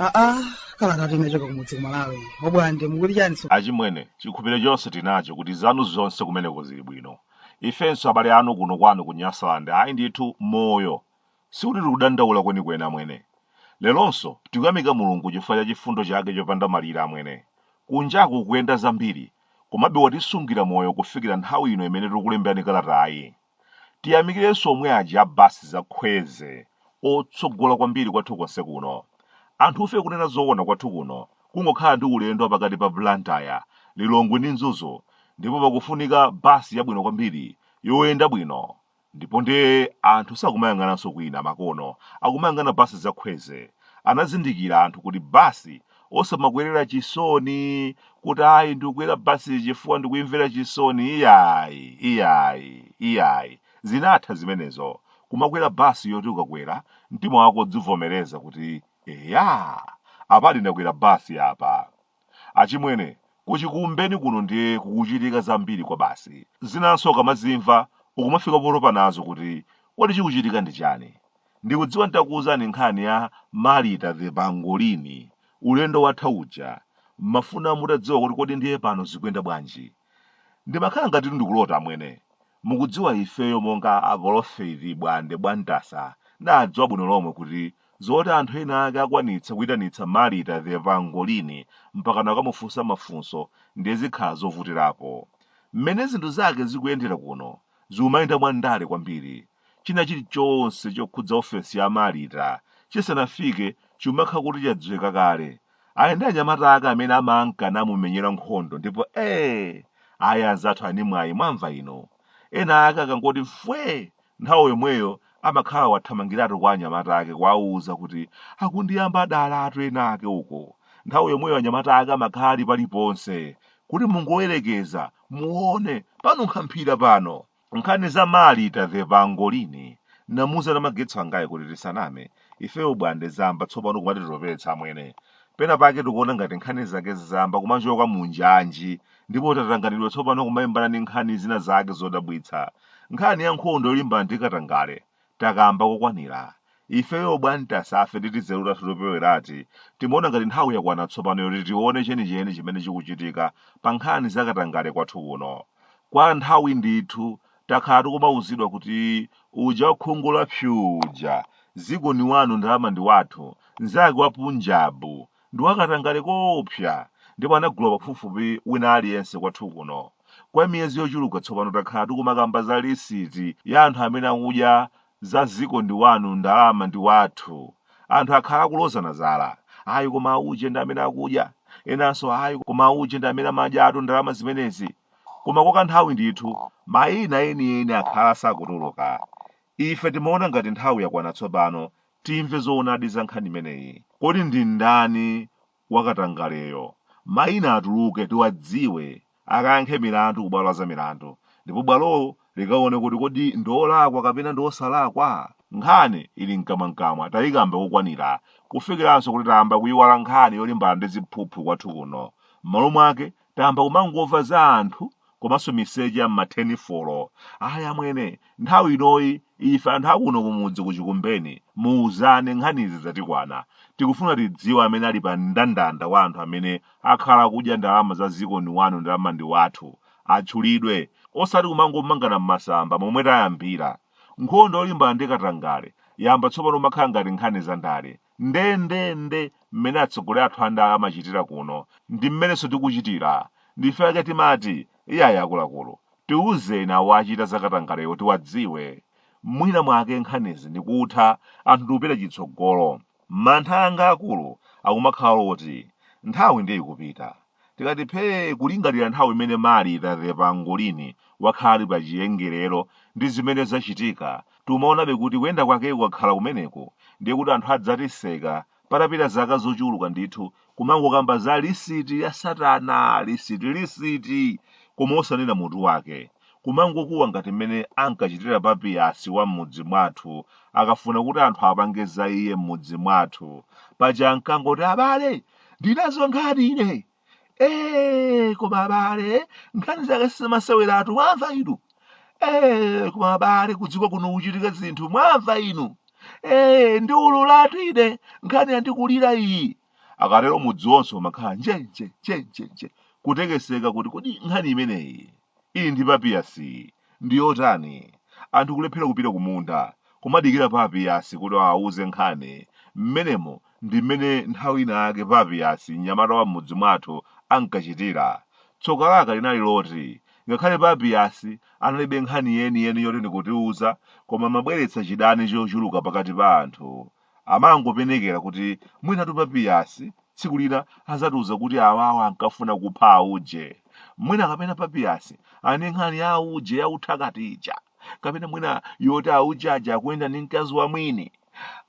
aa kalata inachoka kumudzi kumalawi obwande mukuti chani so achimwene chikhupiro chonse tinacho kuti zanu zonse kumeneko zili bwino ifenso abale anu kuno kwanu ku nyasaland ayi ndithu moyo Sikuti tikudandaula kwenikweni, amwene. Leronso, tikuyamika Mulungu chifukwa cha chifundo chake chopanda malire, amwene. Kunjaku kukuyenda zambiri, komabe watisungira moyo kufikira nthawi ino imene tikukulemberani kalatayi. Tiyamikirenso omwe aja a bus za Kwezy, otsogola kwambiri kwathu konse kuno. Anthufe kunena zoona kwathu kuno kungokhala ndi ulendo wa pakati pa Blantyre, Lilongwe ndi Mzuzu, ndipo pakufunika bus yabwino kwambiri yoyenda bwino. ndipo ndiye anthu sakumayang'ananso kwina makono akumayang'ana basi za kwezy anazindikira anthu kuti basi osamakwerera chisoni kuti ayi ndikukwera basi chifukwa ndikuimvera chisoni iyayi iyayi iyayi zinatha zimenezo kumakwera basi yoti ukakwera mtima wako udzivomereza kuti eya apadi ndakwera basi apa Achimwene, kuchikumbeni kuno ndiye kukuchitika zambiri kwabasi. Zinanso ukamazimva ukumafika potopa nazo kuti kodi chikuchitika ndi chani. Ndikudziwa n'takuuzani nkhani ya Marita the Pangolini ulendo watha uja, m'mafuna mutadziwa kuti kodi ndiye pano zikuyenda bwanji. Ndimakhala ngatitu ndikulota amwene. Mukudziwa ifeyo monga a Polofeti Bwande Bwantasa ndadziwa bwino lomwe kuti zoti anthu ena ake akwanitsa kuitanitsa Marita the Pangolini mpakana kukamufunsa mafunso ndiye zikhala zovutirapo. Mmene zinthu zake zikuyendera kuno zikumayenda mwa ndale kwambiri. China chili chonse chokhudza ofesi ya Marita chisanafike chimakhala kuti chadziwika kale ali ndi anyamata ake amene amanka namumenyera nkhondo ndipo ee ayi anzathu ani mwayi mwamva ino ena ake akangoti mfwe nthawi yomweyo amakhala wathamangiratu kwa anyamata ake kuwauza kuti akundiyamba dalatu ena ake uko nthawi yomweyo anyamata ake amakhala ali paliponse kuti mungoyerekeza muone panunkha mphira pano nkhani za malita the pangolini namuza na magetso angayi kuti tisaname ifeyo bwande zamba tsopano kumatitopetsa amwene pena pake tikuona ngati nkhani zake zamba kumachoka munjanji ndipo tatanganidwa tsopano kumalimbana ndi nkhani zina zake zodabwitsa nkhani ya nkhondo yolimbana ndi katangale takamba kokwanira. Ifeyo bwantasafe ndi tinzeru tathu toperewerati timaona ngati nthawi yakwana tsopano yoti tione chenicheni chimene chikuchitika pa nkhani za katangale kwathu kuno. Kwa nthawi ndithu takhala tikumauzidwa kuti uja wakhungu la psuu uja, dziko ndi wanu ndalama ndi wathu, nzake wa Punjab, Ndi wakatangale koopsa, ndipo anagula pafupifupi wina aliyense kwathu kuno. Kwa miyezi yochuluka tsopano takhala tikumakamba za lisiti ya anthu amene akudya za dziko ndi wanu ndalama ndi wathu. Anthu akhala akulozana zala. Ayi koma auje ndi amene akudya. Enanso ayi koma auje ndi amene amadyatu ndalama zimenezi. Koma kwa kanthawi ndithu, mayina enieni akhala asakutuluka. Ife timaona ngati nthawi yakwana tsopano Timve zoonadi za nkhani imeneyi. Kodi ndi ndani wakatangaleyo? Mayina atuluke tiwadziwe, akayankhe milandu ku bwalo la zamilandu, ndipo bwalolo likaone kuti kodi ndi olakwa kapena ndi osalakwa. Nkhani ili mkamwamkamwa tayikamba kokwanira, kufikiranso kuti tayamba kuyiwala nkhani yolimbana ndi ziphuphu kwathu kuno. M'malo mwake tayamba kumangomva za anthu komanso miseche ya m'mathenifolo ayi amwene nthawi inoyi ife anthu akuno kumudzi kuchikumbeni muuzane nkhanizi zatikwana tikufuna tidziwe amene ali pa mndandanda wa anthu amene akhala akudya ndalama za ziko ndi wanu ndalama ndi wathu atchulidwe osati kumangomangana m'masamba momwe tayambira nkhondo yolimbana ndi katangale yamba tsopano umakhala ngati nkhani za ndale ndendende mmene atsogoleri athu andale amachitira kuno ndi mmenenso tikuchitira. N'chifukwa chake timati, iyayi akuluakulu, tiuzeni awo achita zakatangalewo tiwadziwe. Mwina mwake nkhanizi ndikutha, anthu ndikupita chitsogolo. Mantha anga akulu akumakhala oti, nthawi ndiye ikupita. Tikati phee kulingalira nthawi imene Malita the pangolini wakhala ali pa chiyengerero ndi zimene zachitika, tumaonabe kuti kuyenda kwake kukakhala kumeneko, ndiye kuti anthu adzatiseka patapita zaka zochuluka ndithu kumangokamba za lisiti ya satana lisiti lisiti! koma osanena mutu wake. Kumangokuwa ngati mmene ankachitira Papiyasi wa m'mudzi mwathu akafuna kuti anthu apange za iye m'mudzi mwathu. Paja ankangoti abale! ndi nazo nkhani ine ee koma abale nkhani zake si zamaseweratu mwamva inu ee koma abale kudziko kuno kuchitika zinthu mwamva inu ee ndi ululatu ine nkhani yandikulira iyi akatero mudzi wonse umakhala njenje njenjenje kutekeseka kuti kodi nkhani imeneyi Ili ndi papiyasi ndi yotani? Anthu kulephera kupita kumunda, kumadikira papiyasi kuti awauze nkhani. Mmenemo ndi mmene nthawi inayake papiyasi, mnyamata wa m'mudzi mwathu, ankachitira. Tsoka lake linali loti, ngakhale papiyasi analibe nkhani yeniyeni yoti ndikutiuza, koma amabweretsa chidani chochuluka pakati pa anthu. Amangopenekera kuti mwinatu Papiyasi tsiku lina azatiuza kuti awawa ankafuna kupha auje. Mwina kapena Papiyasi ali ndi nkhani ya auje ya uthakati ija. Kapena mwina yoti auje aja akuyenda ndi mkazi wa mwini.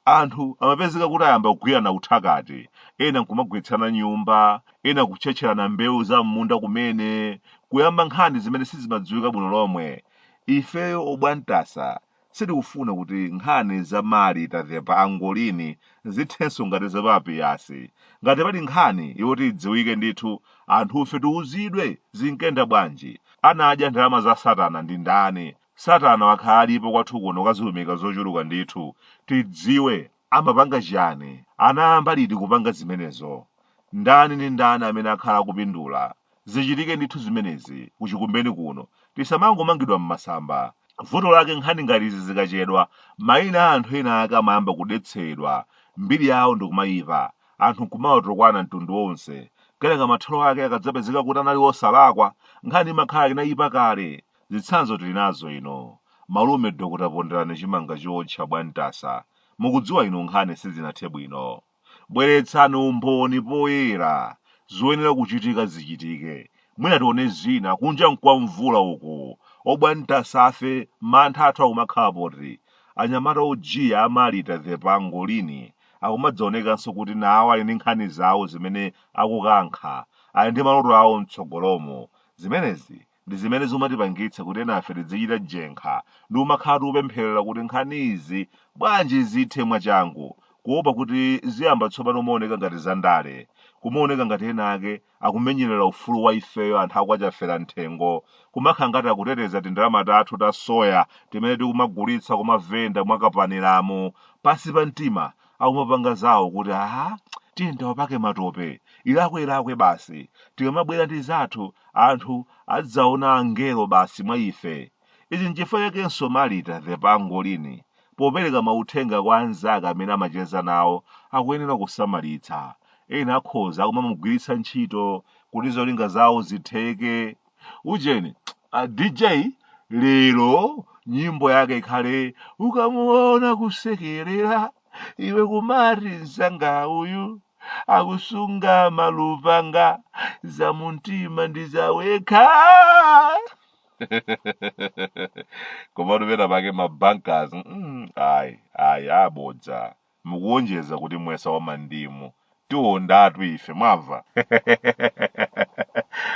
Anthu amapezeka kuti ayamba kugwirana uthakati, ena nkumagwetsana nyumba, ena kutchetcherana mbewu za m'munda kumene, kuyamba nkhani zimene sizimadziwika bwino lomwe. Ifeyo obwantasa Sitikufuna kuti nkhani za Marita the Pangolini zithenso ngati za Papiyasi. Ngati pali nkhani yoti idziwike ndithu, anthufe tiuzidwe zinkenda bwanji. Anadya ndalama za satana ndi ndani? Satana wakhala alipo kwathu kuno kadziumika zochuluka ndithu. Tidziwe Amapanga chiyani? Anayamba liti kupanga zimenezo? Ndani ndi ndani amene akhala akupindula? Zichitike ndithu zimenezi, ku Chikumbeni kuno. Tisamangomangidwa mmasamba. Vuto lake nkhani ngati izi zikachedwa, maina a anthu ena ake amayamba kudetsedwa, mbiri yawo ndikumayipa, anthu nkumawatukwana mtundu wonse. Kenaka mathero ake akadzapezeka kuti anali osalakwa, nkhani imakhala inayipa kale. Zitsanzo tili nazo inu. Malume Dr Ponderani chimanga chootcha bwantasa. Mukudziwa inu nkhani sizinathe bwino. Bweretsani umboni poyera. Zoyenera kuchitika zichitike. Mwina tione zina. Kunja nkwa mvula uku. Obwantasafe, mantha athu akumakhala poti? Anyamata ojiya a Marita the Pangolini akumadzaonekanso kuti nawo ali ndi nkhani zawo zimene akukankha. Ali ndi maloto awo mtsogolomu. Zimenezi ndi zimene zimatipangitsa kuti enafe tidzichita jenkha ndi kumakhala tikupempherera kuti nkhanizi bwanji zithe mwachangu kuopa kuti ziyamba tsopano kumaoneka ngati zandale kumaoneka ngati ena ake akumenyerera ufulu wa ifeyo anthu akwachafera mthengo kumakhala ngati akuteteza tindalama tathu ta soya timene tikumagulitsa kumavenda mwakapaniramo pansi pa mtima akumapanga zawo kuti aha tiye tawapake matope ilakwe ilakwe basi tikamabwera ndi zathu anthu adzaona angelo basi mwa ife ichi nchifukwa chakenso marita the pangolini popereka mauthenga kwa anzake amene amacheza nawo akuyenera kusamalitsa ena akhoza kumamugwiritsa ntchito kuti zolinga zawo zitheke ujeni a dj lero nyimbo yake ikhale ukamuona kusekerera iwe kumati nzanga uyu akusunga malupanga za mumtima ndi za yekha komatu pena pake mabankers mm, ayi ayi abodza mukuwonjeza kuti muyesa wa mandimu. Tiwondatu ife, mwamva?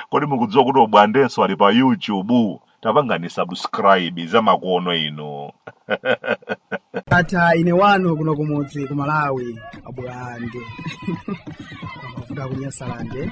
Kodi mukudziwa kuti obwandenso ali pa YouTube? Tapangani subscribe zamakono inu. ndatha ine wanu kuno kumudzi ku malawi abwande kuda kunyasalande